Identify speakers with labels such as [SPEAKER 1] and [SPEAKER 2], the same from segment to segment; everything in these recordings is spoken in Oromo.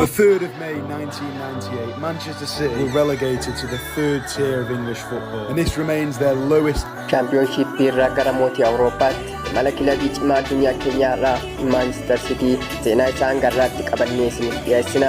[SPEAKER 1] The 3rd of May 1998, Manchester City were relegated to the third tier of English football, and this remains their lowest Chaampiyoonshiippii
[SPEAKER 2] irraa gara mootii Awurooppaatti imala kilabii cimaa addunyaa keenyaa irraa Maanchister Sitii seenaa isaa hanga irraatti qabannee isiniif dhiyeessina.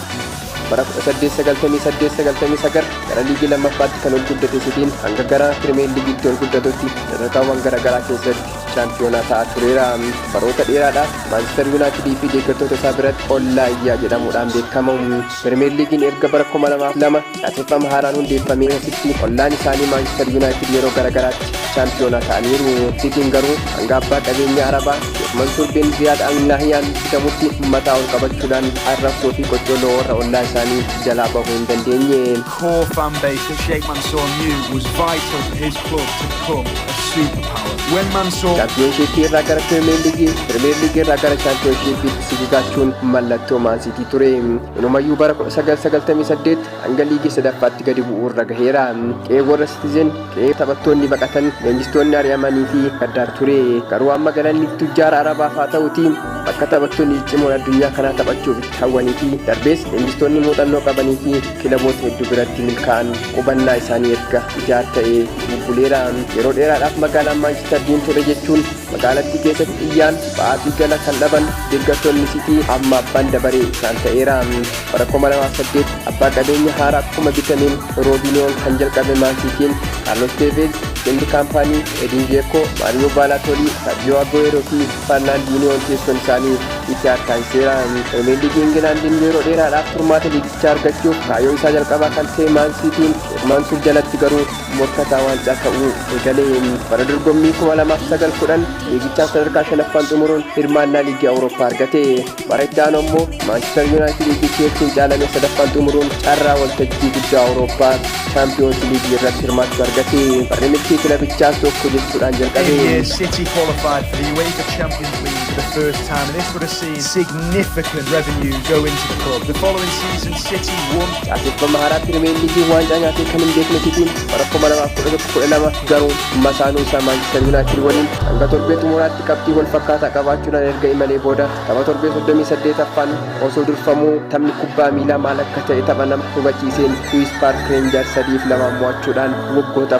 [SPEAKER 2] Bara 1898-99 gara liigii lammaffaatti kan ol guddate Sitiin hanga gara Pirimeer Liigiitti ol guddatutti sadarkaawwan garaagaraa keessatti shaampiyoonaa ta'aa tureera. Baroota dheeraadhaaf Maanchister Yuunaayitidii fi deeggartoota isaa biratti Ollaa Iyyaa jedhamuudhaan beekama. Pirimeer Liigiin erga bara 2002 Caaseffama haaraan hundeeffamee asitti ollaan isaanii Maanchister Yuunaayitid yeroo garagaraatti chaampiyoonaa ta'aniiru. Siitiin garuu hanga abbaa qabeenyaa Arabaa Sheek Mansuur bin Ziyaad Al Nahyaan bitamutti mataa ol qabachuudhaan arrabsoo fi qoccolloo warra ollaa isaanii jalaa bahuu hin dandeenye. core fan
[SPEAKER 1] base that Sheikh Mansour knew was vital for his club to become a superpower. When Mansour Chaampiyoonshiippii irraa gara
[SPEAKER 2] Pirimeer Liigii, Pirimeer Liigii irraa gara Chaampiyoonshiippiitti sigigaachuun mallattoo Maan Siitii ture. Inumayyuu bara 1998 hanga liigii sadaffaatti gadi bu'uu irra gaheera. Qe'ee warra Sitizen, qe'ee taphattoonni baqatan, leenjistoonni ari'amanii fi gaddaa ture. Garuu amma galanni tujjaara Arabaaf haa ta'uti bakka taphattoonni ciccimoon addunyaa kanaa taphachuuf itti hawwanii fi darbees leenjistoonni muuxannoo qabanii fi kilaboota hedduu biratti milkaa'an qubannaa isaanii erga ijaar ta'ee bubbuleera. Yeroo dheeraadhaaf magaalaan Maanchister diimtuudha jechuun Magaalattii keessatti xiyyaan ba'aa fi gala kan dhaban deeggartoonni Siitii amma abbaan dabaree isaan ta'eera. Bara 2008 abbaa qabeenya haaraa kuma bitameen Roobiniyoon kan jalqabe Maan Siitiin Kaarlos Teeveez, Viiseenti Kaampaanii, Ediin Zeekoo, Maariyoo Baalaatoolii, Sarjiyoo Aguweeroo fi Farnaandiiniyoon teessoon isaanii Itihaad taasiseera. Piriimeer Liigii Ingilaandiin yeroo dheeraadhaaf furmaata liigichaa argachuuf kaayoo isaa jalqabaa kan ta'e Maan Siitiin Sheek Maansuur jalatti garuu morkataa waancaa ta'uu eegale. Bara dorgommii 2009 10 liigichaan sadarkaa shanaffaan xumuruun hirmaannaa liigii Awurooppaa argate. Bara itti aanu ammoo Maanchister Yuunaayitidii fi Cheelsiin caalame sadaffaan xumuruun carraa waltajjii guddaa Awurooppaa Chaampiyoonsi Liigii irratti hirmaachuu argate. Barri milkii kilabichaas tokko jechuudhaan jalqabe. year, City qualified for the UEFA Champions League
[SPEAKER 1] for the first time, and this would have seen significant revenue go into the club. The following season, City won Caaseffama haaraa Pirimeer
[SPEAKER 2] Liigiin waancaa nyaatee kan hin beekne Sitiin bara 2011-12 garuu masaanuu isaa Maanchister Yuunaayitid waliin hanga torbee xumuraatti qabxii wal fakkaataa qabaachuudhaan erga imalee booda tapha torbee 38ffaan osoo durfamuu taphni kubbaa miilaa maal akka ta'e tapha nama hubachiiseen Kuwiis Paark Reenjaars 3 fi 2 mo'achuudhaan waggoota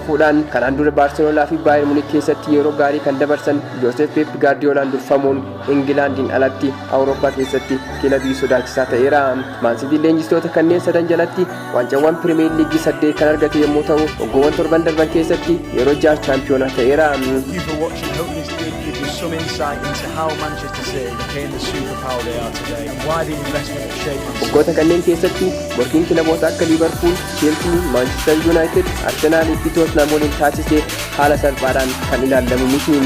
[SPEAKER 2] fuudhaan kanaan dura Baarseloonaa fi Baayern Munik keessatti yeroo gaarii kan dabarsan Jooseef Peep Gaardiyoolaan durfamuun Ingilaandiin alatti Awurooppaa keessatti kilabii sodaachisaa ta'eera. Maansitiin leenjistoota kanneen sadan jalatti waancawwan Pirimeer Liigii saddeet kan argate yommuu ta'u waggoowwan torban darban keessatti yeroo jaha chaampiyoonaa ta'eera. Thank you for watching. Hope this did
[SPEAKER 1] give you some insight into how Manchester City became the superpower they are today and why the investment Waggoota kanneen keessatti
[SPEAKER 2] morkiin kilaboota akka Liivarpuul, Cheelsii, Maanchistar Yuunaayitid, Arsenaalii fi Tootnaam waliin taasise haala salphaadhaan kan ilaallamu miti.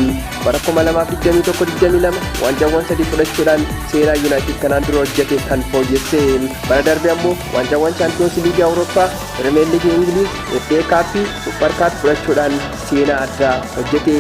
[SPEAKER 2] Bara 2021, 22 waancaawwan sadii fudhachuudhaan seenaa Yuunaayitid kanaan dura hojjete kan fooyyesse. Bara darbe ammoo waancaawwan Chaampiyoonsi Liigii Awurooppaa, Pirimeer Liigii Ingiliiz, FA Kaappii, Supper Kaap fudhachuudhaan seenaa addaa hojjete.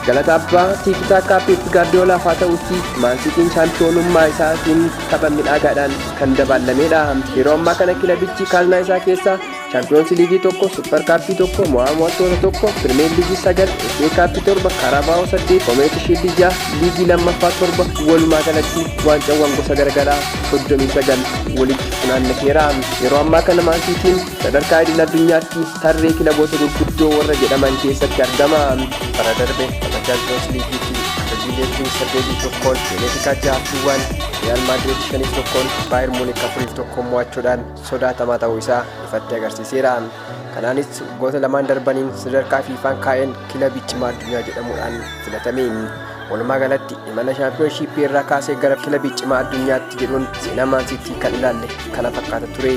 [SPEAKER 2] Galata abbaa Tiiki Taakkaa Peep Gaardiyoolaaf haa ta'uutii Maan Siitiin Chaampiyoonummaa isaatiin tapha midhaagaadhaan kan dabaallameedha. Yeroo ammaa kana kilabichi kaaznaa isaa keessaa Chaampiyoonsi Liigii tokko, Supper Kaappii tokko, Mo'aa Mo'attoota tokko, Pirimeer Liigii sagal, FA Kaappii torba, Karabaa'oo saddeet, Komeeti Shiildii ja'a, Liigii lammaffaa torba walumaa galatti waancawwan gosa garagaraa soddomii sagal walitti funaannateera. Yeroo ammaa kana Maansiitiin sadarkaa idil addunyaatti tarree kilaboota gurguddoo warra jedhaman keessatti argama. bara darbe tapha chaampiyoons liigii fi hojiilee fi saddeetii tokkoon benefikaa jaha fi waan riyaal maadriid shaniif tokkoon baayir muunik afuriif tokkoon mo'achuudhaan sodaatamaa ta'uu isaa ifatti agarsiiseera kanaanis waggoota lamaan darbaniin sadarkaa fiifaan kaa'een kilabii cimaa addunyaa jedhamuudhaan filatame Walumaa galatti imala shaampiyoonshiippii irraa kaasee gara kilabii cimaa addunyaatti jedhuun seenaa maansiitii kan ilaalle kana fakkaata ture.